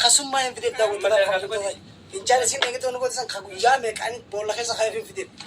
Kasummaa hin fidee daawwatu. Fincaan isin eeggattoonni godhisan kan guyyaa meeqaan boolla keessa kan hin fidee.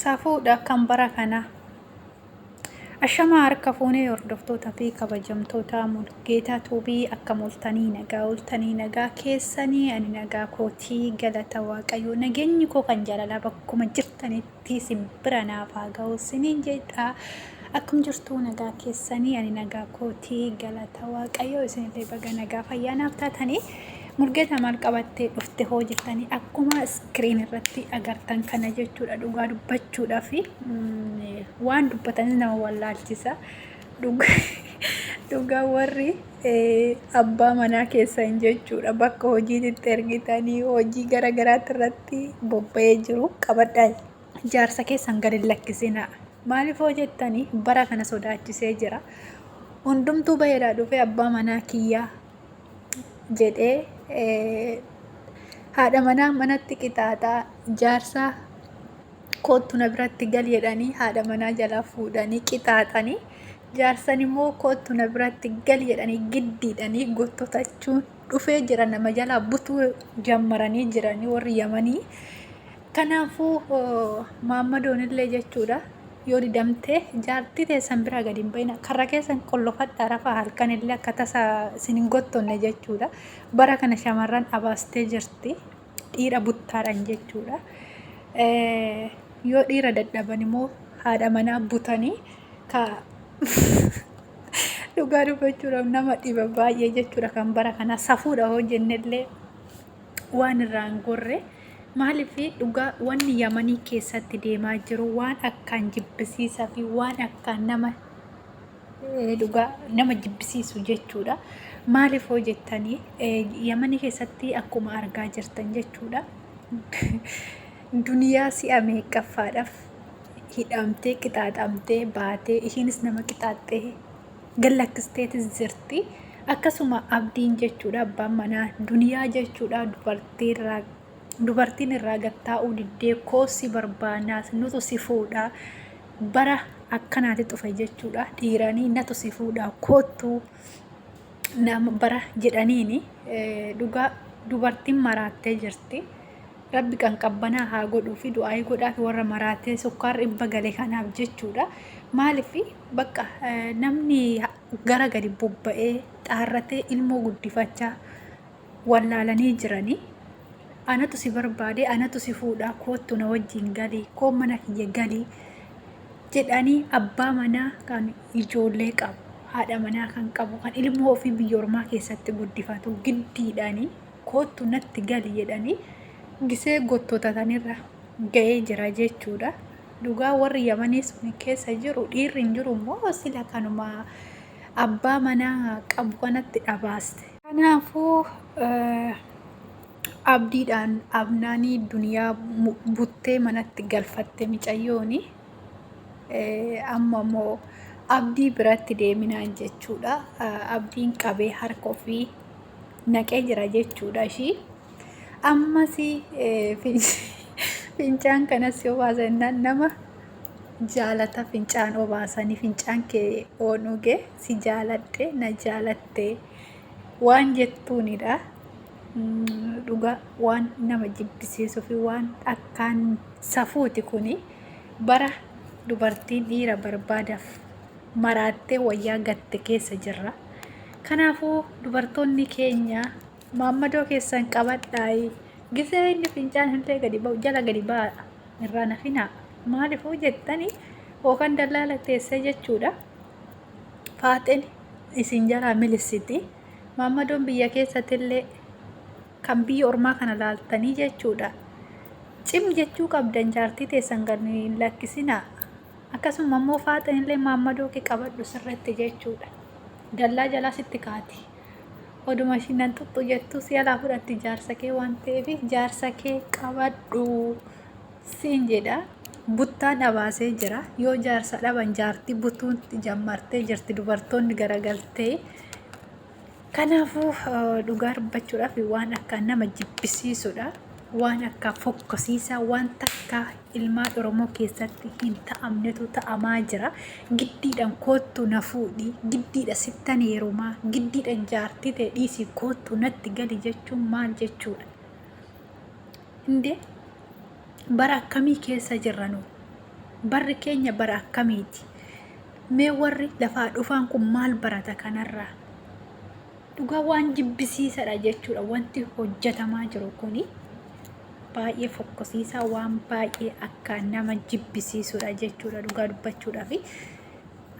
Safuudha kan bara kanaa. Ashamaa harka fuunee hordoftoota fi kabajamtoota Mulgeetaa Tuubii akka multanii nagaa ooltanii nagaa keessanii ani nagaa kootii galata waaqayyoo nageenyi koo kan jaalalaa bakkuma jirtanitti isin bira naaf haa ga'u siniin jedha akkam jirtuu nagaa keessanii ani nagaa kootii galata waaqayyoo isinillee baga nagaa fayyaa naaf taatanii Mulgeta maal qabattee dhufte hoo jettanii akkuma iskiriin irratti agartan kana jechuudha dhugaa dubbachuudha fi waan dubbatanis nama wallaalchisa dhugaa warri abbaa manaa keessan jechuudha bakka hojiititti ergitanii hojii gara garaatti irratti bobba'ee jiru qabadhaa jaarsa keessan gadi lakkisinaa maaliif hoo jettanii bara kana sodaachisee jira hundumtuu baheedhaa dhufee abbaa manaa kiyyaa jedhee haadha manaa manatti qixaaxaa jaarsaa koottu na biratti gal jedhanii haadha manaa jalaa fuudhanii qixaaxanii jaarsan immoo koottu na biratti gal jedhanii giddiidhanii gottotachuun dhufee jira nama jalaa butuu jammaranii jiranii warri yamanii Kanaafuu maammadoonillee jechuudha yoo didamte jaartii teessan biraa gadi hin ba'ina karra keessan qollofadhaa rafaa halkanillee akka tasa isin hin gottonne jechuudha bara kana shamarran abaastee jirti dhiira buttaadhaan jechuudha yoo dhiira dadhaban immoo haadha manaa butanii ka dhugaa dubbachuudhaaf nama dhiba baay'ee jechuudha kan bara kana safuudha hojjennellee waan irraa hin gorre. Maaliif dhugaa wanni Yamanii keessatti deemaa jiru waan akkaan jibbisiisaa fi waan akkaan nama dhugaa nama jibbisiisu jechuudha. Maaliif hoo jettanii Yamanii keessatti akkuma argaa jirtan jechuudha. Duniyaa si'a meeqaffaadhaaf hidhamtee qixaaxamtee baatee ishiinis nama qixaaxxee gallakkisteetis jirti. Akkasuma abdiin jechuudha abbaan manaa duniyaa jechuudha dubartiirraa dubartiin irraa gattaa'uu diddee koossi barbaanaas nutu si fuudha bara akkanaati dhufe jechuudha dhiiranii natu si fuudha koottu nama bara jedhaniini dhugaa dubartiin maraattee jirti. Rabbi kan qabbanaa haa godhuufi du'aayii godhaafi warra maraatee sukkaar dhibba gale kanaaf jechuudha. Maaliif bakka namni gara gadi bobba'ee xaarratee ilmoo guddifachaa wallaalanii jiranii anatu si barbaade anatu si fuudhaa koottu na wajjin galii koo mana kiyya galii jedhanii abbaa manaa kan ijoollee qabu haadha manaa kan qabu kan ilmoo ofii biyya ormaa keessatti guddifatu giddiidhaanii koottu natti gali jedhanii gisee gottotatanirra ga'ee jira jechuudha. Dhugaa warri yamanii sun keessa jiru dhiirri hin jiru immoo sila kanuma abbaa manaa qabu kanatti dhabaaste. Kanaafuu abdiidhaan abnaanii duniyaa buttee manatti galfatte micayyooni. Amma immoo abdii biratti deeminaan jechuudha. Abdiin qabee harka ofii naqee jira jechuudha ishii. Ammas fincaan kanas yoo baasan nama jaalata fincaan obaasanii fincaan kee oonugee si jaaladhe na jaalatte waan jettuunidha. Dhugaa waan nama jibbisiisuu fi waan akkaan safuuti kuni bara dubartiin dhiira barbaadaaf maraattee wayyaa gatte keessa jirra. Kanaafuu dubartoonni keenya maammadoo keessan qabadhaayi gisee inni fincaan illee gadi ba'u jala gadi ba'aadha irraa nafinaa maalifuu jettani hookan dallaala teessee jechuudha faaxeen isin jalaa milissiti maammadoon biyya keessatti illee kan biyya ormaa kana laaltanii jechuudha cim jechuu qabdan jaartii teessan gadi lakkisinaa Akkasuma immoo faaxeen illee maammadoo kee qabadhu sirriitti jechuudha. Dallaa jalaa sitti kaati. Oduma ishiin nan xuxxu jettu si alaa fudhatti jaarsa kee waan ta'eef jaarsa kee qabadhu siin jedha. Buttaa dhabaasee jira. Yoo jaarsa dhaban jaartii butuun jammartee jirti dubartoonni garagaltee. Kanaafuu dhugaa dubbachuudhaaf waan akka nama jibbisiisudha. Waan akka fokkosiisaa waan takka ilmaan Oromoo keessatti hin ta'amnetu ta'amaa jira. Giddiidhaan koottu na fuudhi, giddiidha sittan heerumaa, giddiidhaan jaartii ta'e dhiisii koottu natti gali jechuun maal jechuudha? Indee bara akkamii keessa jirra nu? Barri keenya bara akkamiiti? Mee warri lafaa dhufaan kun maal barata kanarraa? Dhugaa waan jibbisiisadha jechuudha wanti hojjetamaa jiru kuni baay'ee fokkosiisaa waan baay'ee akka nama jibbisiisudha jechuudha dhugaa dubbachuudhaaf.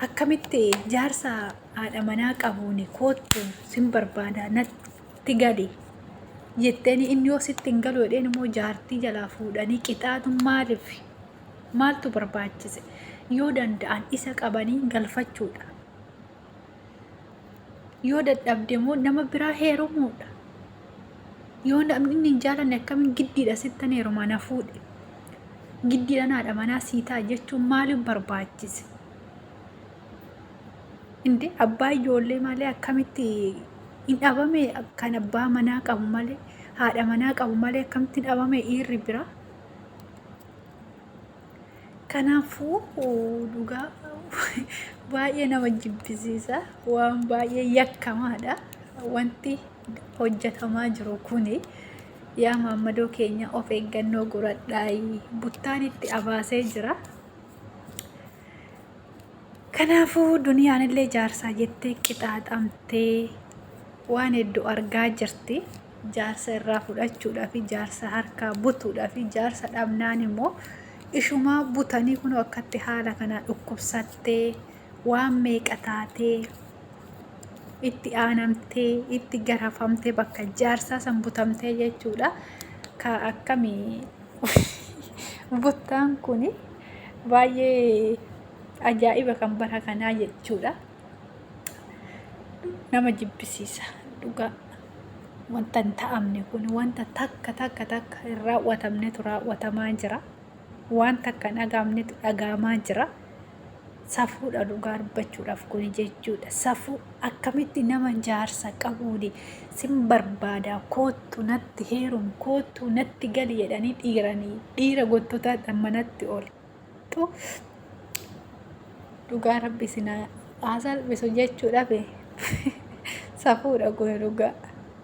Akkamitti jaarsa haadha manaa qabuun koottu sin barbaada natti gali jetteen inni yoo sitti hin galu jedheen immoo jaartii jalaa fuudhanii qixaatu maaliif? Maaltu barbaachise? Yoo danda'an isa qabanii galfachuudha. Yoo dadhabde immoo nama biraa heerumuudha. Yoo namni inni hin jaalanne akkamiin giddiidha sittan heeruma na fuudhe. Giddiidhaan haadha manaa sii ta'a jechuun maaliif barbaachise? Inde abbaa ijoollee malee akkamitti hin dhabame kan abbaa manaa qabu malee haadha manaa qabu malee akkamitti hin dhabame dhiirri biraa? Kanaafuu dhugaa baay'ee nama jibbisiisa. Waan baay'ee yakkamaadha. Wanti hojjetamaa jiru kuni yaa maammadoo keenya of eeggannoo godhadhaayi. Buttaan itti abaasee jira. Kanaafuu duniyaan illee jaarsaa jettee qixaaxamtee waan hedduu argaa jirti. jaarsa irraa fudhachuudhafi jaarsa harkaa butuudhafi jaarsa dhabnaan immoo ishumaa butanii kunoo akkatti haala kanaa dhukkubsattee waan meeqa taatee itti aanamtee itti garafamtee bakka jaarsaa san butamtee jechuudha ka akkami buttaan kun baay'ee ajaa'iba kan bara kanaa jechuudha. nama jibbisiisa dhugaa wanta hin ta'amne kun wanta takka takka takka hin raawwatamnetu raawwatamaa jira waan takka hin dhagaamnetu dhagaamaa jira safuudha dhugaa dubbachuudhaaf kun jechuudha safuu akkamitti nama jaarsa qabuuni sin barbaadaa koottu natti heerum koottu natti gali jedhanii dhiiranii dhiira gottota manatti ol Dhuuf dhugaa rabbi isin haa salphisu jechuudhaaf safuudha kun dhugaa.